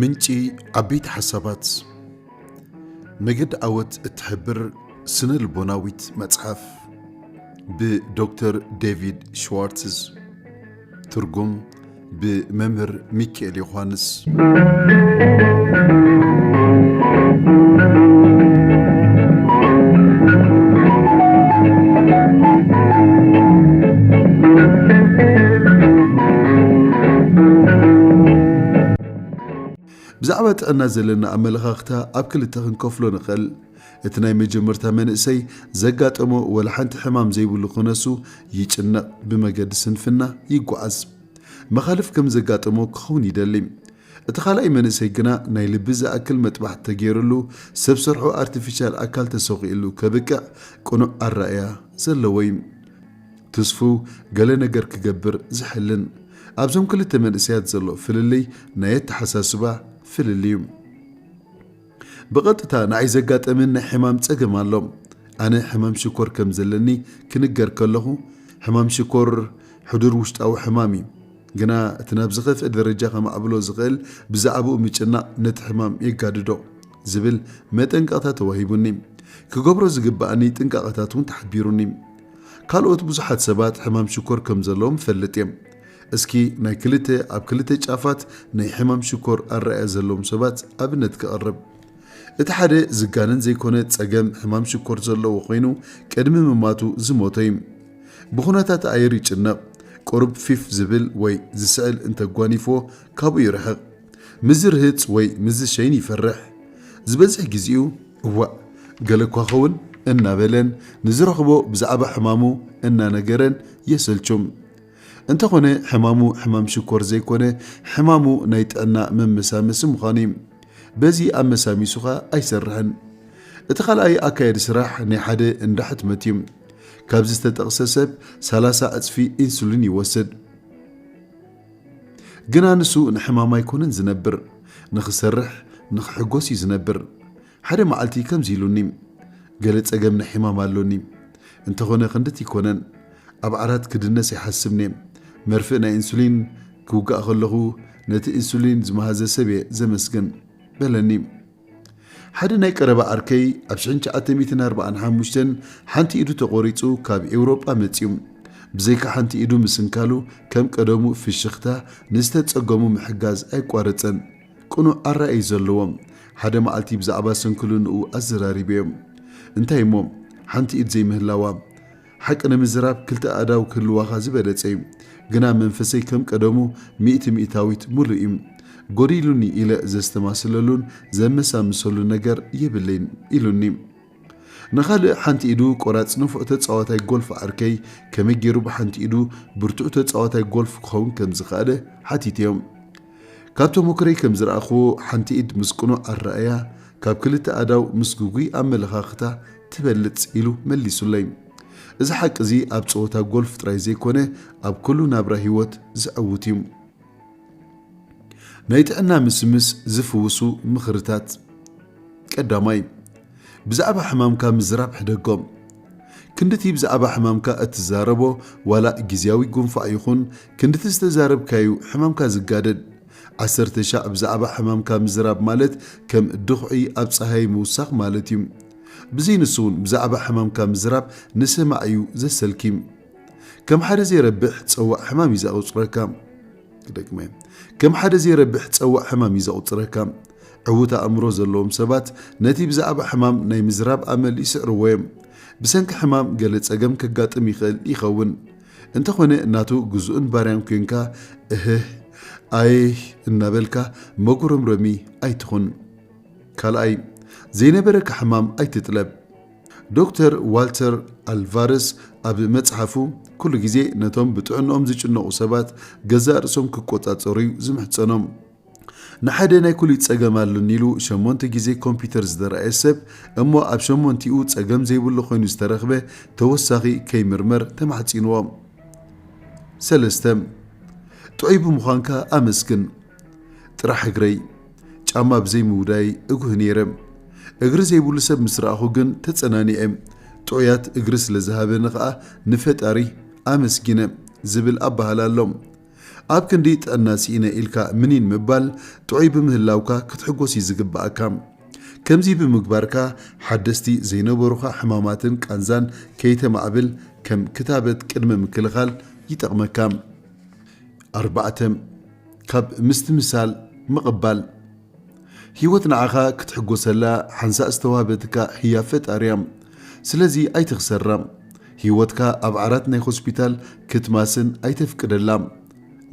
ምንጪ ዓበይቲ ሓሳባት መገዲ ዓወት እትሕብር ስነ ልቦናዊት መጽሓፍ ብዶክተር ዴቪድ ሽዋርትዝ ትርጉም ብመምህር ሚኪኤል ዮሃንስ። ብዛዕባ ጥዕና ዘለና ኣመለኻኽታ ኣብ ክልተ ክንከፍሎ ንኽእል። እቲ ናይ መጀመርታ መንእሰይ ዘጋጠሞ ወላ ሓንቲ ሕማም ዘይብሉ ክነሱ ይጭነቕ፣ ብመገዲ ስንፍና ይጓዓዝ። መኻልፍ ከም ዘጋጠሞ ክኸውን ይደሊ። እቲ ካልኣይ መንእሰይ ግና ናይ ልቢ ዝኣክል መጥባሕቲ ተገይርሉ ሰብ ሰርሖ ኣርቲፊሻል ኣካል ተሰዂኡሉ ከብቅዕ ቅኑዕ ኣራእያ ዘለዎ እዩ። ትስፉው ገለ ነገር ክገብር ዝሕልን። ኣብዞም ክልተ መንእሰያት ዘሎ ፍልልይ ናይ ኣተሓሳስባ ፍልልይ እዩ። ብቐጥታ ንኣይ ዘጋጠመኒ ናይ ሕማም ጸገም ኣሎ። ኣነ ሕማም ሽኮር ከም ዘለኒ ክንገር ከለኹ፣ ሕማም ሽኮር ሕዱር ውሽጣዊ ሕማም እዩ፣ ግና እቲ ናብ ዝኸፍኤ ደረጃ ከማዕብሎ ዝኽእል ብዛዕባኡ ምጭናቕ ነቲ ሕማም የጋድዶ ዝብል መጠንቀቕታ ተዋሂቡኒ። ክገብሮ ዝግበኣኒ ጥንቃቐታት እውን ተሓቢሩኒ። ካልኦት ብዙሓት ሰባት ሕማም ሽኮር ከም ዘለዎም እፈልጥ እየ። እስኪ ናይ ክልተ ኣብ ክልተ ጫፋት ናይ ሕማም ሽኮር ኣረኣእያ ዘለዎም ሰባት ኣብነት ከቕርብ። እቲ ሓደ ዝጋነን ዘይኮነ ጸገም ሕማም ሽኮር ዘለዎ ኮይኑ ቅድሚ ምማቱ ዝሞተ እዩ። ብኹነታት ኣየር ይጭነቕ፣ ቁሩብ ፊፍ ዝብል ወይ ዝስዕል እንተጓኒፎ ካብኡ ይርሕቕ። ምስ ዝርህጽ ወይ ምስ ዝሸይን ይፈርሕ። ዝበዝሕ ግዜኡ እዋእ ገለ እኳ ኸውን እናበለን ንዝረኽቦ ብዛዕባ ሕማሙ እናነገረን የሰልቹም። እንተኾነ ሕማሙ ሕማም ሽኮር ዘይኮነ ሕማሙ ናይ ጥዕና መመሳመሲ ምዃኑ እዩ። በዚ ኣመሳሚሱ ከኣ ኣይሰርሕን። እቲ ካልኣይ ኣካየዲ ስራሕ ናይ ሓደ እንዳ ሕትመት እዩ። ካብዚ ዝተጠቕሰ ሰብ ሰላሳ ዕጽፊ ኢንሱሊን ይወስድ። ግና ንሱ ንሕማም ኣይኮነን ዝነብር፣ ንኽሰርሕ ንኽሕጎስ እዩ ዝነብር። ሓደ መዓልቲ ከምዚ ኢሉኒ፣ ገለ ጸገም ናይ ሕማም ኣሎኒ፣ እንተኾነ ክንድቲ ኣይኮነን፣ ኣብ ዓራት ክድነስ ይሓስብኔ፣ መርፍእ ናይ ኢንሱሊን ክውጋእ ከለኹ ነቲ ኢንሱሊን ዝመሃዘ ሰብየ ዘመስግን። በለኒ። ሓደ ናይ ቀረባ ዓርከይ ኣብ ሽሕን ትሽዓተ ሚእትን ኣርብዓን ሓሙሽተን ሓንቲ ኢዱ ተቖሪጹ ካብ ኤውሮጳ መጺኡ፣ ብዘይካ ሓንቲ ኢዱ ምስንካሉ ከም ቀደሙ ፍሽኽታ ንዝተጸገሙ ምሕጋዝ ኣይቋረጸን። ቅኑዕ ኣረኣእይ ዘለዎም፣ ሓደ መዓልቲ ብዛዕባ ስንክልንኡ ኣዘራሪበዮ። እንታይ እሞ ሓንቲ ኢድ ዘይምህላዋ። ሓቂ ንምዝራብ ክልተ ኣእዳው ክህልዋኻ ዝበለጸ እዩ። ግና መንፈሰይ ከም ቀደሙ ሚእቲ ሚእታዊት ምሉእ እዩ። ጎዲሉኒ ኢለ ዘስተማስለሉን ዘመሳምሰሉን ነገር የብለይን። ኢሉኒ። ንኻልእ ሓንቲ ኢዱ ቆራጽ ንፉዕ ተጻዋታይ ጎልፍ ዓርከይ ከመይ ገይሩ ብሓንቲ ኢዱ ብርቱዕ ተጻዋታይ ጎልፍ ክኸውን ከም ዝኸኣለ ሓቲተዮም። ካብ ተሞክሮይ ከም ዝረኣኹዎ ሓንቲ ኢድ ምስ ቅኑዕ ኣረኣእያ ካብ ክልተ ኣእዳው ምስ ግጉይ ኣመለኻኽታ ትበልጽ ኢሉ መሊሱለይ። እዚ ሓቂ እዚ ኣብ ጸወታ ጎልፍ ጥራይ ዘይኮነ ኣብ ኩሉ ናብራ ህይወት ዘዐውት እዩ። ናይ ጥዕና ምስምስ ዝፍውሱ ምኽርታት ቀዳማይ፣ ብዛዕባ ሕማምካ ምዝራብ ሕደጎም። ክንድቲ ብዛዕባ ሕማምካ እትዛረቦ ዋላ ግዝያዊ ጉንፋዕ ይኹን፣ ክንድቲ ዝተዛረብካዩ ሕማምካ ዝጋደድ። ዓሰርተ ሻዕ ብዛዕባ ሕማምካ ምዝራብ ማለት ከም ድኹዒ ኣብ ጸሃይ ምውሳኽ ማለትዩ። ብዘይንሱውን ብዛዕባ ሕማምካ ምዝራብ ንሰማዒዩ ዘሰልኪ። ከም ሓደ ዘይረብሕ ጸዋዕ ሕማም እዩ ዘቑጽረካ። ክደግመ ከም ሓደ ዘይረብሕ ጸዋዕ ሕማም እዩ ዘቑጽረካ። ዕዉት ኣእምሮ ዘለዎም ሰባት ነቲ ብዛዕባ ሕማም ናይ ምዝራብ ኣመል ይስዕርዎ እዮም። ብሰንኪ ሕማም ገለ ጸገም ከጋጥም ይኽእል ይኸውን። እንተኾነ ናቱ ግዙእን ባርያን ኮንካ እህህ ኣይህ እናበልካ መጉረምረሚ ኣይትኹን። ካልኣይ፣ ዘይነበረካ ሕማም ኣይትጥለብ። ዶክተር ዋልተር ኣልቫረስ ኣብ መጽሓፉ፣ ኩሉ ግዜ ነቶም ብጥዕንኦም ዝጭነቑ ሰባት ገዛእ ርእሶም ክቆጻጸሩ'ዩ ዝምሕጸኖም። ንሓደ ናይ ኩሊት ጸገም ኣሎኒ ኢሉ ሸሞንተ ግዜ ኮምፕዩተር ዝተራእየ ሰብ እሞ ኣብ ሸሞንቲኡ ጸገም ዘይብሉ ኮይኑ ዝተረኽበ ተወሳኺ ከይምርመር ተማሕጺንዎ። ሰለስተ። ጥዑይ ብምዃንካ ኣመስግን። ጥራሕ እግረይ! ጫማ ብዘይ ምውዳይ እጉህ ነይረ። እግሪ ዘይብሉ ሰብ ምስ ረኣኹ ግን ተጸናኒዐ። ጥዑያት እግሪ ስለ ዝሃበኒ ከኣ ንፈጣሪ ኣመስጊነ ዝብል ኣበሃህላ ኣሎ። ኣብ ክንዲ ጥዕና ስኢነ ኢልካ ምኒን ምባል፣ ጥዑይ ብምህላውካ ክትሕጎስ እዩ ዝግበኣካ። ከምዚ ብምግባርካ ሓደስቲ ዘይነበሩኻ ሕማማትን ቃንዛን ከይተማዕብል ከም ክታበት ቅድመ ምክልኻል ይጠቕመካ። ኣርባዕተ። ካብ ምስትምሳል ምቕባል። ህይወት ንዓኻ ክትሕጎሰላ ሓንሳእ ዝተዋህበትካ ህያብ ፈጣሪ'ያ። ስለዚ ኣይትኽሰራ። ህይወትካ ኣብ ዓራት ናይ ሆስፒታል ክትማስን ኣይተፍቅደላ።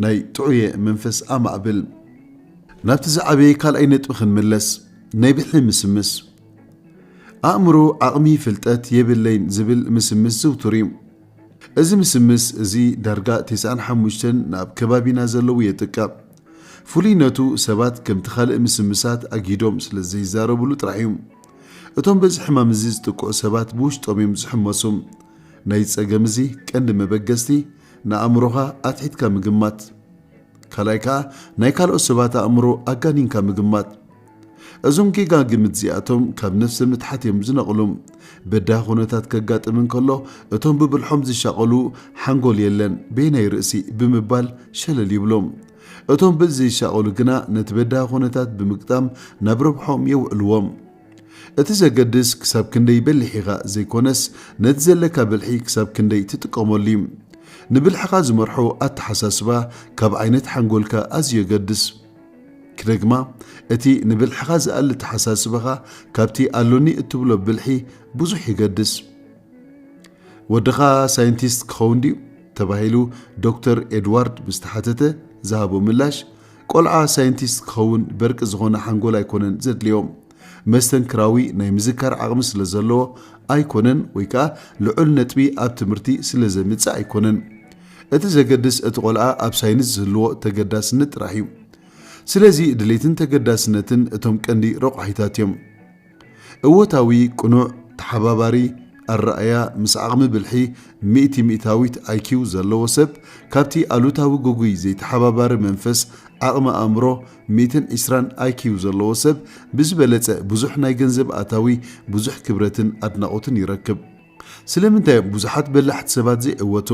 ናይ ጥዑየ መንፈስ ኣማዕብል። ናብቲ ዝዓበየ ካልኣይ ነጥቢ ክንምለስ። ናይ ብሒ ምስምስ። ኣእምሮ ዓቕሚ ፍልጠት የብለይን ዝብል ምስምስ ዝውቱር'ዩ። እዚ ምስምስ እዚ ዳርጋ ተስዓን ሓሙሽተን ንኣብ ከባቢና ዘለዉ የጥቅዕ። ፍሉይነቱ ሰባት ከምቲ ካልእ ምስምሳት ኣግሂዶም ስለ ዘይዛረብሉ ጥራሕ እዩ። እቶም በዚ ሕማም እዚ ዝጥቅዑ ሰባት ብውሽጦም እዮም ዝሕመሱ። ናይዚ ጸገም እዚ ቀንዲ መበገስቲ ንኣእምሮኻ ኣትሒትካ ምግማት። ካልኣይ ከኣ ናይ ካልኦት ሰባት ኣእምሮ ኣጋኒንካ ምግማት። እዞም ጌጋ ግምት እዚኣቶም ካብ ነፍሰ ምትሓት እዮም ዝነቕሉ። በዳሂ ኩነታት ከጋጥም እንከሎ እቶም ብብልሖም ዝሻቐሉ ሓንጎል የለን በየናይ ርእሲ ብምባል ሸለል ይብሉ። እቶም በዚ ዘይሻቐሉ ግና ነቲ በዳሂ ኩነታት ብምግጣም ናብ ረብሕኦም የውዕልዎ። እቲ ዘገድስ ክሳብ ክንደይ በሊሕ ኢኻ ዘይኮነስ ነቲ ዘለካ ብልሒ ክሳብ ክንደይ ትጥቀመሉ እዩ። ንብልሕኻ ዝመርሖ ኣተሓሳስባ ካብ ዓይነት ሓንጎልካ ኣዝዩ የገድስ። ክደግማ፣ እቲ ንብልሕኻ ዝኣሊ ተሓሳስባኻ ካብቲ ኣሎኒ እትብሎ ብልሒ ብዙሕ ይገድስ። ወድኻ ሳይንቲስት ክኸውን ድዩ? ተባሂሉ ዶክተር ኤድዋርድ ምስ ተሓተተ ዝሃቦ ምላሽ፣ ቆልዓ ሳይንቲስት ክኸውን በርቂ ዝኾነ ሓንጎል ኣይኮነን ዘድልዮ። መስተንክራዊ ናይ ምዝካር ዓቕሚ ስለ ዘለዎ ኣይኮነን ወይ ከኣ ልዑል ነጥቢ ኣብ ትምህርቲ ስለ ዘምጽእ ኣይኮነን። እቲ ዘገድስ እቲ ቆልዓ ኣብ ሳይንስ ዝህልዎ ተገዳስነት ጥራሕ እዩ። ስለዚ ድሌትን ተገዳስነትን እቶም ቀንዲ ረቋሒታት እዮም። እወታዊ፣ ቅኑዕ፣ ተሓባባሪ፣ ኣረኣእያ ምስ ዓቕሚ ብልሒ ሚእቲ ሚእታዊት ኣይኪው ዘለዎ ሰብ ካብቲ ኣሉታዊ ግጉይ ዘይተሓባባሪ መንፈስ ዓቕሚ ኣእምሮ ሚእትን ዒስራን ኣይኪው ዘለዎ ሰብ ብዝበለጸ ብዙሕ ናይ ገንዘብ ኣታዊ፣ ብዙሕ ክብረትን ኣድናቖትን ይረክብ። ስለምንታይ እዮም ብዙሓት በላሕቲ ሰባት ዘይዕወቱ?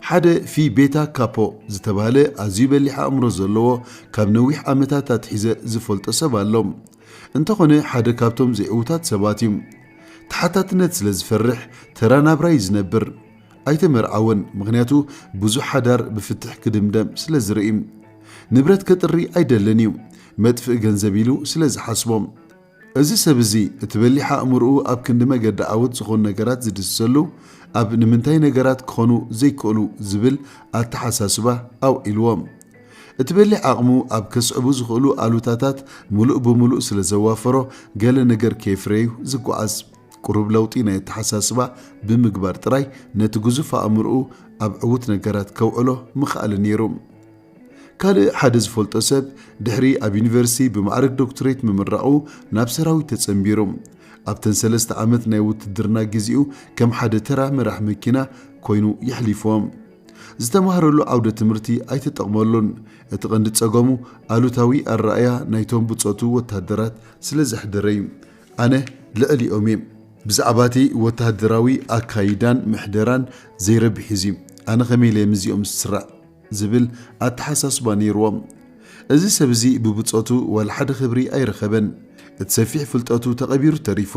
ሓደ ፊ ቤታ ካፖ ዝተባህለ ኣዝዩ በሊሕ ኣእምሮ ዘለዎ ካብ ነዊሕ ዓመታት ኣትሒዘ ዝፈልጦ ሰብ ኣሎ። እንተኾነ ሓደ ካብቶም ዘይዕዉታት ሰባት እዩ። ተሓታትነት ስለ ዝፈርሕ ተራ ናብራ እዩ ዝነብር። ኣይተመርዓወን ምኽንያቱ ብዙሕ ሓዳር ብፍትሕ ክድምደም ስለ ዝርእይ ንብረት ከጥሪ ኣይደልን እዩ መጥፍኢ ገንዘብ ኢሉ ስለ ዝሓስቦ እዚ ሰብ እዚ እቲ በሊሕ ኣእምርኡ ኣብ ክንዲ መገዲ ዓወት ዝኾኑ ነገራት ዝድስሰሉ ኣብ ንምንታይ ነገራት ክኾኑ ዘይክእሉ ዝብል ኣተሓሳስባ ኣውዒልዎ እቲ በሊሕ ዓቕሙ ኣብ ከስዕቡ ዝኽእሉ ኣሉታታት ምሉእ ብምሉእ ስለ ዘዋፈሮ ገለ ነገር ከየፍረዩ ዝጓዓዝ ቁሩብ ለውጢ ናይ ኣተሓሳስባ ብምግባር ጥራይ ነቲ ግዙፍ ኣእምሮኡ ኣብ ዕዉት ነገራት ከውዕሎ ምኸኣለ ነይሩ። ካልእ ሓደ ዝፈልጦ ሰብ ድሕሪ ኣብ ዩኒቨርሲቲ ብማዕርግ ዶክትሬት ምምራቑ ናብ ሰራዊት ተጸንቢሩ። ኣብተን ሰለስተ ዓመት ናይ ውትድርና ግዜኡ ከም ሓደ ተራ መራሕ መኪና ኮይኑ የሕሊፎ። ዝተማህረሉ ዓውደ ትምህርቲ ኣይተጠቕመሉን፣ እቲ ቀንዲ ጸገሙ ኣሉታዊ ኣረኣእያ ናይቶም ብጾቱ ወተሃደራት ስለ ዘሕደረ እዩ። ኣነ ልዕሊኦም እየ። ብዛዕባ እቲ ወተሃደራዊ ኣካይዳን ምሕደራን ዘይረብሕ እዩ እዚ። ኣነ ከመይ ኢለ እየ ምስዚኦም ዝስራዕ? ዝብል ኣተሓሳስባ ነይርዎም። እዚ ሰብ እዚ ብብጾቱ ዋላ ሓደ ክብሪ ኣይረኸበን። እቲ ሰፊሕ ፍልጠቱ ተቐቢሩ ተሪፉ።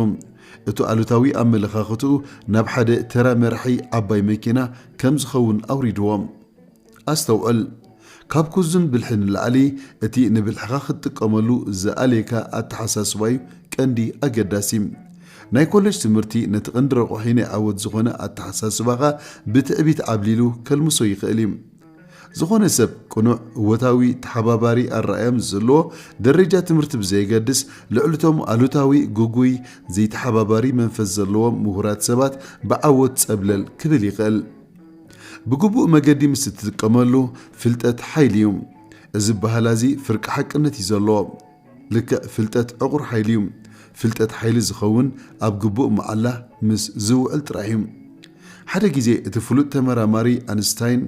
እቱ ኣሉታዊ ኣመለኻኽትኡ ናብ ሓደ ተራ መራሒ ዓባይ መኪና ከም ዝኸውን ኣውሪድዎ። ኣስተውዕል፣ ካብ ኩዝን ብልሒ ንላዕሊ እቲ ንብልሕኻ ክትጥቀመሉ ዝኣልየካ ኣተሓሳስባ'ዩ ቀንዲ ኣገዳሲ። ናይ ኮለጅ ትምህርቲ ነቲ ቀንዲ ረቋሒ ናይ ዓወት ዝኾነ ኣተሓሳስባኻ ብትዕቢት ዓብሊሉ ከልምሶ ይኽእል'ዩ። ዝኾነ ሰብ ቅኑዕ፣ እወታዊ፣ ተሓባባሪ ኣረኣእያ ምስ ዘለዎ፣ ደረጃ ትምህርቲ ብዘየገድስ፣ ልዕሊ'ቶም ኣሉታዊ፣ ግጉይ፣ ዘይተሓባባሪ መንፈስ ዘለዎም ምሁራት ሰባት ብዓወት ጸብለል ክብል ይኽእል። ብግቡእ መገዲ ምስ እትጥቀመሉ ፍልጠት ሓይሊ እዩ። እዚ ኣበሃህላ እዚ ፍርቂ ሓቅነት እዩ ዘለዎ። ልክዕ ፍልጠት ዕቑር ሓይሊ እዩ። ፍልጠት ሓይሊ ዝኸውን ኣብ ግቡእ መዓላ ምስ ዝውዕል ጥራይ እዩ። ሓደ ግዜ እቲ ፍሉጥ ተመራማሪ ኣንስታይን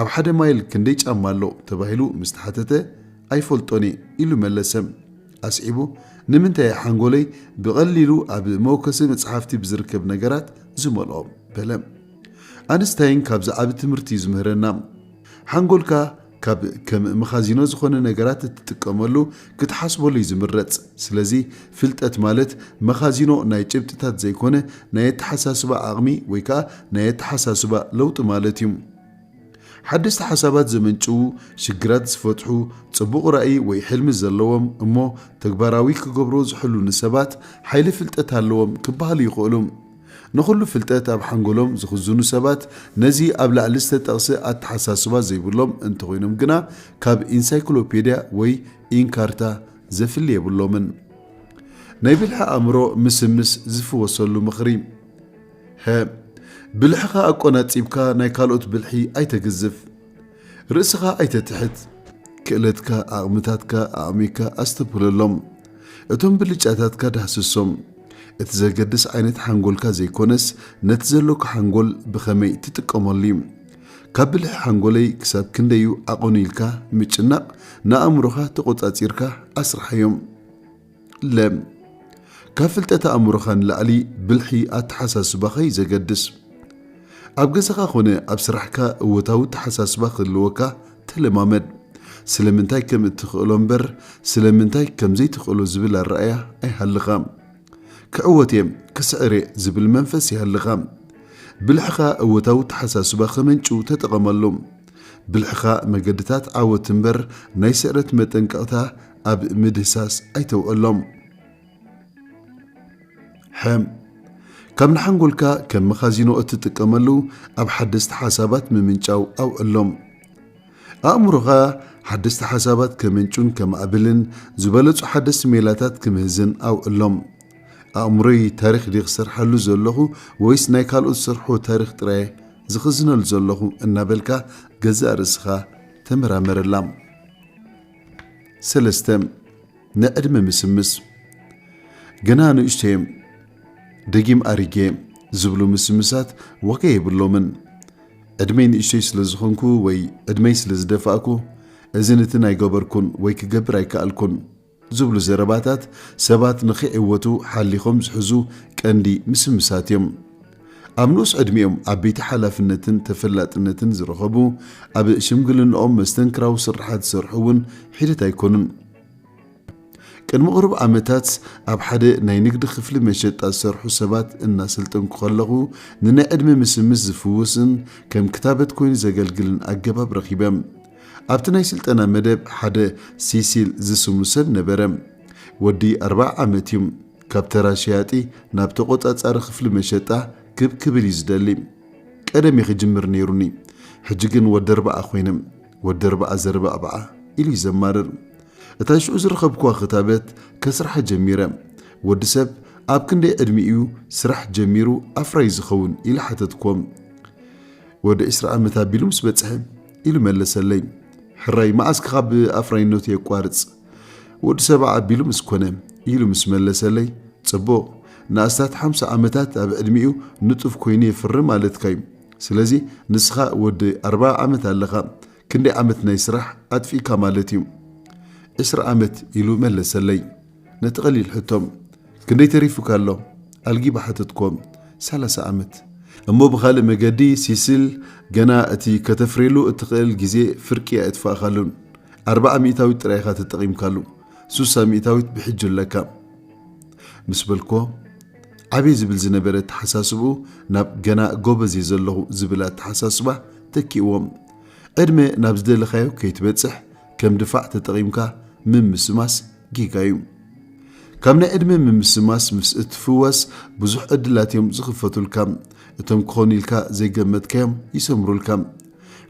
ኣብ ሓደ ማይል ክንደይ ጫማ ኣሎ ተባሂሉ ምስ ተሓተተ ኣይፈልጦን እየ ኢሉ መለሰ። ኣስዒቡ ንምንታይ እየ ሓንጎለይ ብቐሊሉ ኣብ መወከሲ መጽሓፍቲ ብዝርከብ ነገራት ዝመልኦ? በለ። ኣንስታይን ካብዚ ዓቢ ትምህርቲ እዩ ዝምህረና። ሓንጎልካ ካብ ከም መኻዚኖ ዝኾነ ነገራት እትጥቀመሉ ክትሓስበሉ እዩ ዝምረጽ። ስለዚ ፍልጠት ማለት መኻዚኖ ናይ ጭብጥታት ዘይኮነ ናይ ኣተሓሳስባ ዓቕሚ ወይ ከኣ ናይ ኣተሓሳስባ ለውጢ ማለት እዩ። ሓደስቲ ሓሳባት ዘመንጭዉ፣ ሽግራት ዝፈትሑ፣ ጽቡቕ ራኢ ወይ ሕልሚ ዘለዎም እሞ ተግባራዊ ክገብርዎ ዝሕልኑ ሰባት ሓይሊ ፍልጠት ኣለዎም ክበሃሉ ይኽእሉ። ንኹሉ ፍልጠት ኣብ ሓንጎሎም ዝኽዝኑ ሰባት ነዚ ኣብ ላዕሊ ዝተጠቕሰ ኣተሓሳስባ ዘይብሎም እንተኾይኖም ግና ካብ ኢንሳይክሎፔድያ ወይ ኢንካርታ ዘፍሊ የብሎምን። ናይ ብልሒ ኣእምሮ ምስምስ ዝፍወሰሉ ምኽሪ ሀ ብልሕኻ ኣቆናጺብካ ናይ ካልኦት ብልሒ ኣይተግዝፍ። ርእስኻ ኣይተትሕት፣ ክእለትካ፣ ዓቕምታትካ፣ ኣዕሚካ ኣስተብህለሎም። እቶም ብልጫታትካ ዳህስሶም። እቲ ዘገድስ ዓይነት ሓንጎልካ ዘይኮነስ ነቲ ዘሎካ ሓንጎል ብኸመይ ትጥቀመሉ እዩ። ካብ ብልሒ ሓንጎለይ ክሳብ ክንደይ እዩ ዓቐኑ ኢልካ ምጭናቕ ንኣእምሮኻ ተቖጻጺርካ ኣስርሓዮም። ለም። ካብ ፍልጠት ኣእምሮኻ ንላዕሊ ብልሒ ኣተሓሳስባኻ እዩ ዘገድስ። ኣብ ገዛኻ ኮነ ኣብ ስራሕካ እወታዊ ኣተሓሳስባ ክህልወካ ተለማመድ። ስለምንታይ ከም እትኽእሎ እምበር ስለምንታይ ከም ዘይትኽእሎ ዝብል ኣረኣእያ ኣይሃልኻ። ክዕወት እየ፣ ክስዕር እየ ዝብል መንፈስ ይሃልኻ። ብልሕኻ እወታዊ ኣተሓሳስባ ከመንጭው ተጠቐመሉ። ብልሕኻ መገድታት ዓወት እምበር ናይ ስዕረት መጠንቀቕታ ኣብ ምድህሳስ ኣይተውዕሎም። ሕም ካብ ንሓንጎልካ ከም መኻዚኖ እትጥቀመሉ ኣብ ሓደስቲ ሓሳባት ምምንጫው ኣውዕሎም። ኣእምሮኻ ሓደስቲ ሓሳባት ከምንጩን ከማዕብልን ዝበለጹ ሓደስቲ ሜላታት ክምህዝን ኣውዕሎም። ኣእምሮይ ታሪኽ ድየ ክሰርሓሉ ዘለኹ ወይስ ናይ ካልኦት ዝሰርሕዎ ታሪኽ ጥራየ ዝኽዝነሉ ዘለኹ እናበልካ ገዛእ ርእስኻ ተመራመረላ። ሰለስተ ንዕድመ ምስምስ ገና ንእሽተየ ደጊም ኣሪጌ ዝብሉ ምስምሳት ዋጋ የብሎምን። ዕድመይ ንእሽተይ ስለ ዝኾንኩ ወይ ዕድመይ ስለ ዝደፋእኩ እዚ ንትን ኣይገበርኩን ወይ ክገብር ኣይከኣልኩን ዝብሉ ዘረባታት ሰባት ንኺዕወቱ ሓሊኾም ዝሕዙ ቀንዲ ምስምሳት እዮም። ኣብ ንኡስ ዕድሚኦም ዓበይቲ ሓላፍነትን ተፈላጥነትን ዝረኸቡ፣ ኣብ ሽምግልንኦም መስተንክራዊ ስርሓት ዝሰርሑ እውን ሒደት ኣይኮኑን። ቅድሚ ቕሩብ ዓመታት ኣብ ሓደ ናይ ንግዲ ክፍሊ መሸጣ ዝሰርሑ ሰባት እናሰልጠንኩ ከለኹ፣ ንናይ ዕድመ ምስምስ ዝፍውስን ከም ክታበት ኮይኑ ዘገልግልን ኣገባብ ረኺበ። ኣብቲ ናይ ስልጠና መደብ ሓደ ሲሲል ዝስሙ ሰብ ነበረ። ወዲ ኣርብዓ ዓመት እዩ። ካብ ተራ ሸያጢ ናብ ተቖጻጻሪ ክፍሊ መሸጣ ክብ ክብል እዩ ዝደሊ። ቀደም እየ ክጅምር ነይሩኒ፣ ሕጂ ግን ወዲ ኣርብዓ ኮይነ። ወዲ ኣርብዓ ዘርባዕብዓ ኢሉ እዩ ዘማርር። እታ ሽዑ ዝረኸብኩዋ ክታበት ከስርሓ ጀሚረ። ወዲ ሰብ ኣብ ክንደይ ዕድሚኡ እዩ ስራሕ ጀሚሩ ኣፍራዪ ዝኸውን ኢለ ሓተትኩዎም። ወዲ ዕስራ ዓመት ኣቢሉ ምስ በጽሐ ኢሉ መለሰለይ። ሕራይ መዓስ ክኻብ ኣፍራይነቱ የቋርጽ? ወዲ ሰባ ኣቢሉ ምስ ኮነ ኢሉ ምስ መለሰለይ ጽቡቕ ንኣስታት ሓምሳ ዓመታት ኣብ ዕድሚኡ ንጡፍ ኮይኑ የፍሪ ማለትካ እዩ ስለዚ ንስኻ ወዲ ኣርባ ዓመት ኣለኻ ክንደይ ዓመት ናይ ስራሕ ኣጥፊእካ ማለት እዩ ዕስራ ዓመት ኢሉ መለሰለይ ነቲ ቀሊል ሕቶ ክንደይ ተሪፉካ ኣሎ ኣልጊ ብሓተትኮም ሰላሳ ኣመት እሞ ብኻልእ መገዲ ሲሲል ገና እቲ ከተፍርየሉ እትኽእል ግዜ ፍርቂ ኣየጥፋእኻሉን ኣርብዓ ሚእታዊት ጥራይ ኢኻ ተጠቒምካሉ ሱሳ ሚእታዊት ብሕጂ ኣለካ ምስ በልኮ ዓብየ ዝብል ዝነበረ ኣተሓሳስብኡ ናብ ገና ጎበዝ እየ ዘለኹ ዝብል ኣተሓሳስባ ተኪእዎም ዕድመ ናብ ዝደለኻዮ ከይትበጽሕ ከም ድፋዕ ተጠቒምካ ምምስማስ ጌጋ እዩ። ካብ ናይ ዕድመ ምምስማስ ምስ እትፍወስ ብዙሕ ዕድላት እዮም ዝኽፈቱልካ። እቶም ክኾኑ ኢልካ ዘይገመትካዮም ይሰምሩልካ።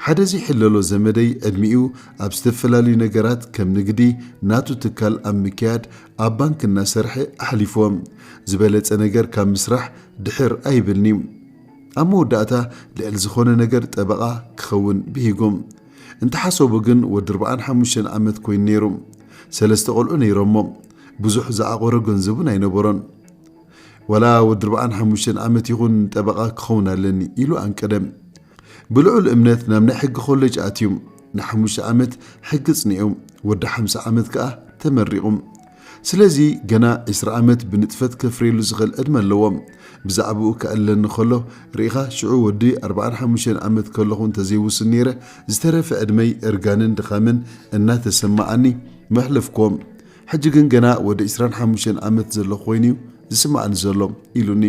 ሓደ ዘይሕለሎ ዘመደይ ዕድሚኡ ኣብ ዝተፈላለዩ ነገራት ከም ንግዲ ናቱ ትካል ኣብ ምክያድ ኣብ ባንክ እናሰርሐ ኣሕሊፍዎ። ዝበለፀ ነገር ካብ ምስራሕ ድሕር ኣይብልን'ዩ። ኣብ መወዳእታ ልዕሊ ዝኾነ ነገር ጠበቓ ክኸውን ብሂጉ። እንተሓሰቡ ግን ወዲ ኣርብዓን ሓሙሽተን ዓመት ኮይኑ ነይሩ። ሰለስተ ቆልዑ ነይሮሞ። ብዙሕ ዝዓቖሮ ገንዘብ እውን ኣይነበሮን። ዋላ ወዲ ኣርብዓን ሓሙሽተን ዓመት ይኹን ጠበቓ ክኸውን ኣለኒ ኢሉ ኣንቀደ። ብልዑል እምነት ናብ ናይ ሕጊ ኮለጅ ኣትዩ። ንሓሙሽተ ዓመት ሕጊ ኣጽኒዑ። ወዲ ሓምሳ ዓመት ከኣ ተመሪቑ። ስለዚ ገና ዕስራ ኣመት ብንጥፈት ከፍርየሉ ዝኽእል ዕድመ ኣለዎ። ብዛዕብኡ ከእለኒ ከሎ፣ ርኢኻ ሽዑ ወዲ ኣርብዓን ሓሙሽተን ኣመት ከለኹ እንተዘይውሱን ነይረ፣ ዝተረፈ ዕድመይ እርጋንን ድኻምን እናተሰማዓኒ መሕለፍኩዎ። ሕጂ ግን ገና ወዲ ዕስራን ሓሙሽተን ኣመት ዘለኹ ኮይኑ'ዩ ዝስማዓኒ ዘሎ። ኢሉኒ።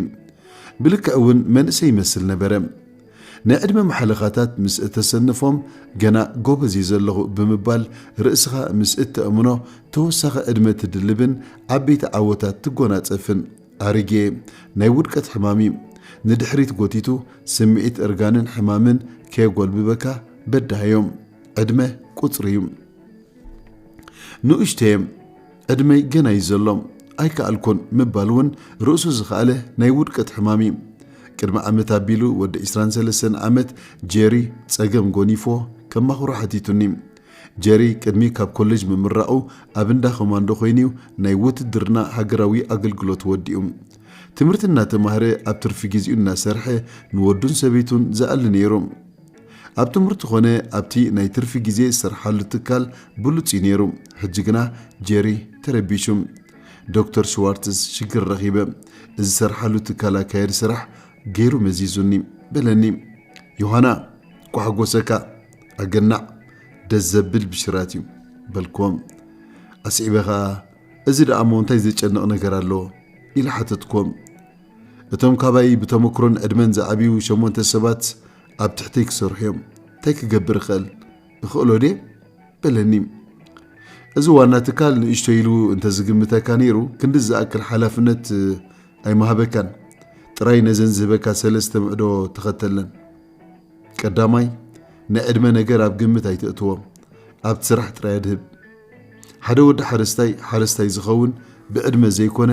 ብልክዕ'ውን መንእሰይ ይመስል ነበረ። ናይ ዕድመ ማሕለኻታት ምስ እተሰንፎም፣ ገና ጐበዝ እየ ዘለኹ ብምባል ርእስኻ ምስ እተእምኖ፣ ተወሳኺ ዕድመ ትድልብን ዓበይቲ ዓወታት ትጐናጸፍን። ኣሪጌ፣ ናይ ውድቀት ሕማም እዩ። ንድሕሪት ጐቲቱ ስምዒት እርጋንን ሕማምን ከየጐልብበካ በዳህዮ። ዕድመ ቍጽሪ እዩ። ንኡሽተየ። ዕድመይ ገና እዩ ዘሎ፣ ኣይከኣልኩን ምባል እውን ርእሱ ዝኸኣለ ናይ ውድቀት ሕማም እዩ። ቅድሚ ዓመት ኣቢሉ ወዲ ዕስራን ሰለስተን ዓመት ጄሪ ጸገም ጎኒፍዎ ከማኽሮ ሓቲቱኒ። ጀሪ ቅድሚ ካብ ኮሌጅ ምምራቑ ኣብ እንዳ ኮማንዶ ኮይኑዩ ናይ ውትድርና ሃገራዊ ኣገልግሎት ወዲኡ ትምህርቲ እናተማህረ ኣብ ትርፊ ግዜኡ እናሰርሐ ንወዱን ሰበይቱን ዝኣሊ ነይሩ። ኣብ ትምህርቲ ኮነ ኣብቲ ናይ ትርፊ ግዜ ዝሰርሓሉ ትካል ብሉጽ እዩ ነይሩ። ሕጂ ግና ጄሪ ተረቢሹ። ዶክተር ሽዋርትዝ ሽግር ረኺበ። ዝሰርሓሉ ትካል ኣካያዲ ስራሕ ገይሩ መዚዙኒ። በለኒ። ዮሃና! ኳሕጎሰካ! ኣገናዕ! ደስ ዘብል ብሽራት እዩ። በልክዎ። ኣስዒበ ከኣ እዚ ደኣ'ሞ እንታይ ዘጨንቕ ነገር ኣሎ? ኢለ ሓተትክዎ። እቶም ካባይ ብተመክሮን ዕድመን ዝዓብዩ ሸሞንተ ሰባት ኣብ ትሕተይ ክሰርሑ እዮም እንታይ ክገብር እኽእል እኽእሎ ድየ በለኒ እዚ ዋና ትካል ንእሽቶ ኢሉ እንተዝግምተካ ነይሩ ክንዲ ዝኣክል ሓላፍነት ኣይመሃበካን ጥራይ ነዘን ዝህበካ ሰለስተ ምዕዶ ተኸተለን ቀዳማይ ናይ ዕድመ ነገር ኣብ ግምት ኣይተእትዎም ኣብቲ ስራሕ ጥራይ ኣድህብ ሓደ ወዲ ሓረስታይ ሓረስታይ ዝኸውን ብዕድመ ዘይኮነ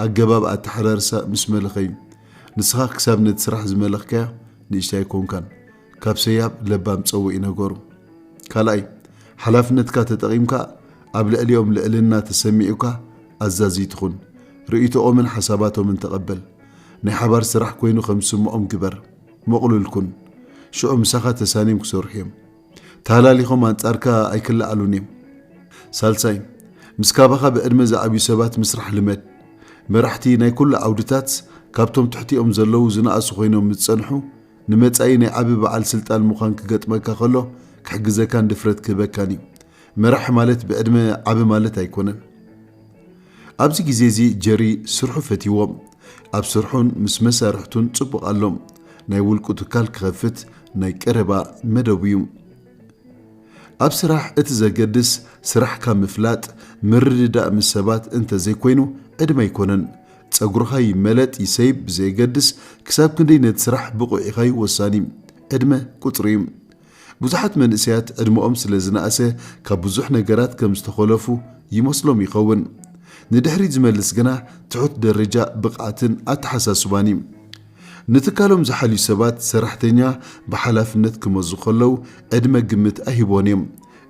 ኣገባብ ኣተሓራርሳ ምስ መለኸ እዩ ንስኻ ክሳብ ነቲ ስራሕ ዝመለኽካዮ ንእሽተይ ኣይኮንካን ካብ ሰያብ ለባም ጸውዒ ነገሩ። ካልኣይ፣ ሓላፍነትካ ተጠቒምካ ኣብ ልዕሊኦም ልዕልና ተሰሚዑካ ኣዛዚ ትኹን። ርእይቶኦምን ሓሳባቶምን ተቐበል። ናይ ሓባር ስራሕ ኮይኑ ከም ዝስምዖም ግበር። ምቕሉል ኩን። ሽዑ ምሳኻ ተሳንዮም ክሰርሑ እዮም። ተሃላሊኾም ኣንጻርካ ኣይክለዓሉን እዮም። ሳልሳይ፣ ምስ ካባኻ ብዕድመ ዝዓብዩ ሰባት ምስራሕ ልመድ። መራሕቲ ናይ ኩሉ ዓውድታት ካብቶም ትሕቲኦም ዘለዉ ዝነኣሱ ኮይኖም ምስ ዝጸንሑ፣ ንመጻኢ ናይ ዓቢ በዓል ስልጣን ምዃን ክገጥመካ ከሎ ክሕግዘካን ድፍረት ክህበካን እዩ። መራሒ ማለት ብዕድመ ዓቢ ማለት ኣይኮነን። ኣብዚ ግዜ እዚ ጀሪ ስርሑ ፈትይዎ። ኣብ ስርሑን ምስ መሳርሕቱን ጽቡቕ ኣሎ። ናይ ውልቁ ትካል ክኸፍት ናይ ቀረባ መደቡ እዩ። ኣብ ስራሕ እቲ ዘገድስ ስራሕካ ምፍላጥ፣ ምርድዳእ ምስ ሰባት እንተ ዘይኮይኑ ዕድመ ኣይኮነን። ጸጉርኻ ይመለጥ ይሰይብ ብዘየገድስ ክሳብ ክንደይ ነቲ ስራሕ ብቑዕ ኢኻ'ዩ ወሳኒ። ዕድመ ቁጽሪ እዩ። ብዙሓት መንእሰያት ዕድመኦም ስለ ዝነኣሰ ካብ ብዙሕ ነገራት ከም ዝተኾለፉ ይመስሎም ይኸውን። ንድሕሪት ዝመልስ ግና ትሑት ደረጃ ብቕዓትን ኣተሓሳስባን እዩ። ንትካሎም ዝሓልዩ ሰባት ሰራሕተኛ ብሓላፍነት ክመዙ ከለው ዕድመ ግምት ኣይህቡዎን እዮም።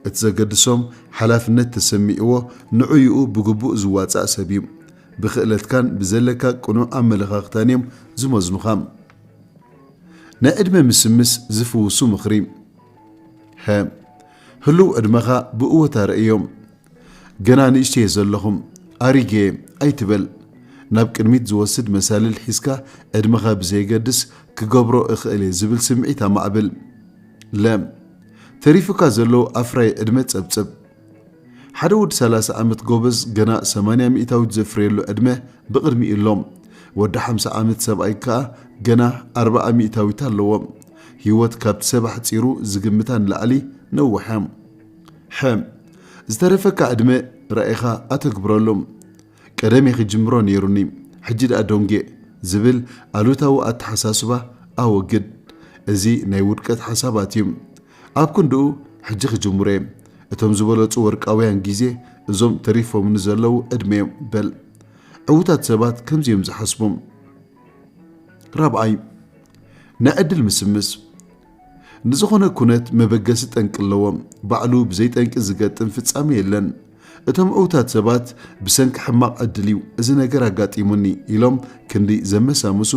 እቲ ዘገድሶም ሓላፍነት ተሰሚዕዎ ንዑይኡ ብግቡእ ዝዋጻእ ሰብ እዩ። ብኽእለትካን ብዘለካ ቅኑዕ ኣመለኻኽታን እዮም ዝመዝኑኻ። ንዕድመ ምስምስ ዝፍውሱ ምኽሪ ሀ ህሉው ዕድመኻ ብእወታ ርእዮ። ገና ንእሽተየ ዘለኹም ኣሪገየ ኣይትበል። ናብ ቅድሚት ዝወስድ መሳልል ሒዝካ ዕድመኻ ብዘየገድስ ክገብሮ እኽእልየ ዝብል ስምዒት ኣማዕብል። ለ ተሪፉካ ዘሎ ኣፍራዪ ዕድመ ጸብጽብ። ሓደ ወዲ ሰላሳ ዓመት ጎበዝ ገና ሰማንያ ሚእታዊት ዘፍርየሉ ዕድመ ብቕድሚኡ ኣሎ። ወዲ ሓምሳ ዓመት ሰብኣይ ከኣ ገና ኣርብዓ ሚእታዊት ኣለዎ። ህይወት ካብቲ ሰብ ኣሕጺሩ ዝግምታ ንላዕሊ ነዊሕ'ያ። ሐ። ዝተረፈካ ዕድመ ራኢኻ ኣተግብረሉ። ቀደሜ ክጅምሮ ነይሩኒ ሕጂ ድኣ ዶንጌ ዝብል ኣሉታዊ ኣተሓሳስባ ኣወግድ እዚ ናይ ውድቀት ሓሳባት እዩ ኣብ ክንድኡ ሕጂ ክጅምሮ እየ እቶም ዝበለጹ ወርቃውያን ግዜ እዞም ተሪፎምኒ ዘለዉ ዕድመ እዮም በል ዕውታት ሰባት ከምዚ እዮም ዝሓስቡ ራብዓይ ናይ ዕድል ምስምስ ንዝኾነ ኩነት መበገሲ ጠንቂ ኣለዎ፣ ባዕሉ ብዘይ ጠንቂ ዝገጥም ፍጻሜ የለን። እቶም ዕውታት ሰባት ብሰንኪ ሕማቕ ዕድል እዩ እዚ ነገር ኣጋጢሙኒ ኢሎም ክንዲ ዘመሳምሱ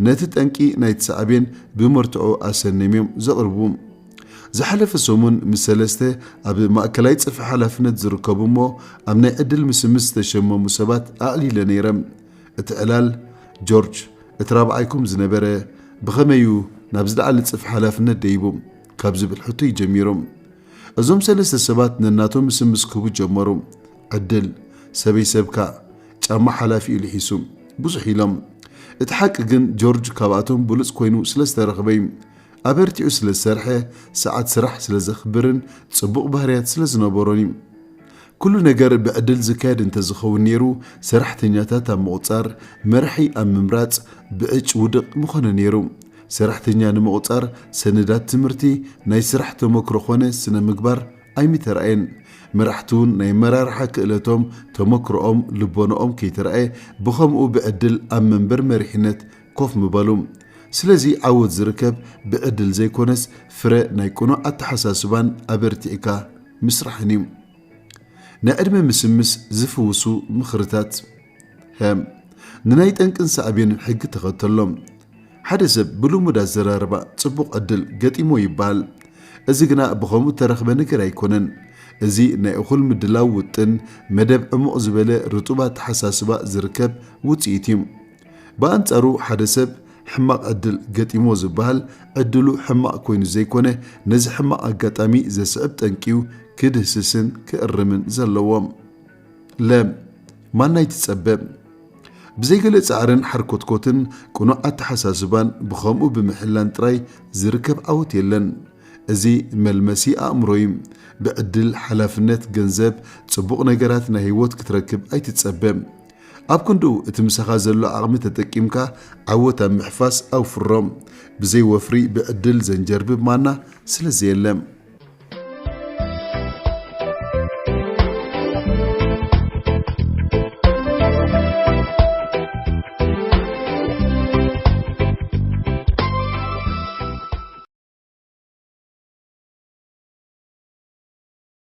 ነቲ ጠንቂ ናይቲ ሳዕቤን ብመርትዖ ኣሰንዮም እዮም ዘቕርቡ። ዝሓለፈ ሰሙን ምስ ሰለስተ ኣብ ማእከላይ ጽፍሒ ሓላፍነት ዝርከቡ እሞ ኣብ ናይ ዕድል ምስምስ ዝተሸመሙ ሰባት ኣዕሊለ ነይረ። እቲ ዕላል ጆርጅ እቲ ራብዓይኩም ዝነበረ ብኸመይ እዩ ናብ ዝለዓለ ጽፍሒ ሓላፍነት ደይቦም ካብ ዝብል ሕቶ እዩ ጀሚሮም። እዞም ሰለስተ ሰባት ነናቶም ስም ምስ ክህቡ ጀመሩ፣ ዕድል፣ ሰበይ ሰብካ፣ ጫማ ሓላፊኡ ልሒሱ፣ ብዙሕ ኢሎም። እቲ ሓቂ ግን ጆርጅ ካብኣቶም ብሉጽ ኮይኑ ስለ ዝተረኽበ እዩ። ኣበርቲዑ ስለ ዝሰርሐ፣ ሰዓት ስራሕ ስለ ዘኽብርን ጽቡቕ ባህርያት ስለ ዝነበሮን እዩ። ኩሉ ነገር ብዕድል ዝካየድ እንተዝኸውን ነይሩ ሰራሕተኛታት ኣብ ምቑፃር፣ መራሒ ኣብ ምምራፅ ብዕጭ ውድቕ ምኾነ ነይሩ። ሰራሕተኛ ንምቑፃር ሰነዳት ትምህርቲ፣ ናይ ስራሕ ተሞክሮ ኾነ ስነ ምግባር ኣይምተርኣየን። መራሕቲ እውን ናይ ኣመራርሓ ክእለቶም፣ ተሞክሮኦም፣ ልቦነኦም ከይተርኣየ ብኸምኡ ብዕድል ኣብ መንበር መሪሕነት ኮፍ ምበሉ። ስለዚ ዓወት ዝርከብ ብዕድል ዘይኮነስ ፍረ ናይ ቅኑዕ ኣተሓሳስባን ኣበርቲዕካ ምስራሕን እዩ። ናይ ዕድመ ምስምስ ዝፍውሱ ምኽርታት ሀ ንናይ ጠንቅን ሳዕቤንን ሕጊ ተኸተሎ። ሓደ ሰብ ብልሙድ ኣዘራርባ ጽቡቕ ዕድል ገጢሞ ይበሃል። እዚ ግና ብኸምኡ እተረኽበ ነገር ኣይኮነን። እዚ ናይ እኹል ምድላው ውጥን፣ መደብ ዕሙቕ ዝበለ ርጡብ ኣተሓሳስባ ዝርከብ ውጽኢት እዩ። ብኣንጻሩ ሓደ ሰብ ሕማቕ ዕድል ገጢምዎ ዝበሃል ዕድሉ ሕማቕ ኮይኑ ዘይኮነ ነዚ ሕማቕ ኣጋጣሚ ዘስዕብ ጠንቂዩ ክድህስስን ክእርምን ዘለዎ። ለ። ማናይ ትጸበ? ብዘይገለ ጻዕርን ሓርኮትኮትን ቅኑዕ ኣተሓሳስባን ብኸምኡ ብምሕላን ጥራይ ዝርከብ ዓወት የለን። እዚ መልመሲ ኣእምሮዩ። ብዕድል፣ ሓላፍነት፣ ገንዘብ፣ ጽቡቕ ነገራት ናይ ህይወት ክትረክብ ኣይትጸበ። ኣብ ክንድኡ እቲ ምሳኻ ዘሎ ዓቕሚ ተጠቂምካ ዓወት ኣብ ምሕፋስ ኣውፍሮ። ብዘይ ወፍሪ ብዕድል ዘንጀርብብ ማና ስለ ዘየለ።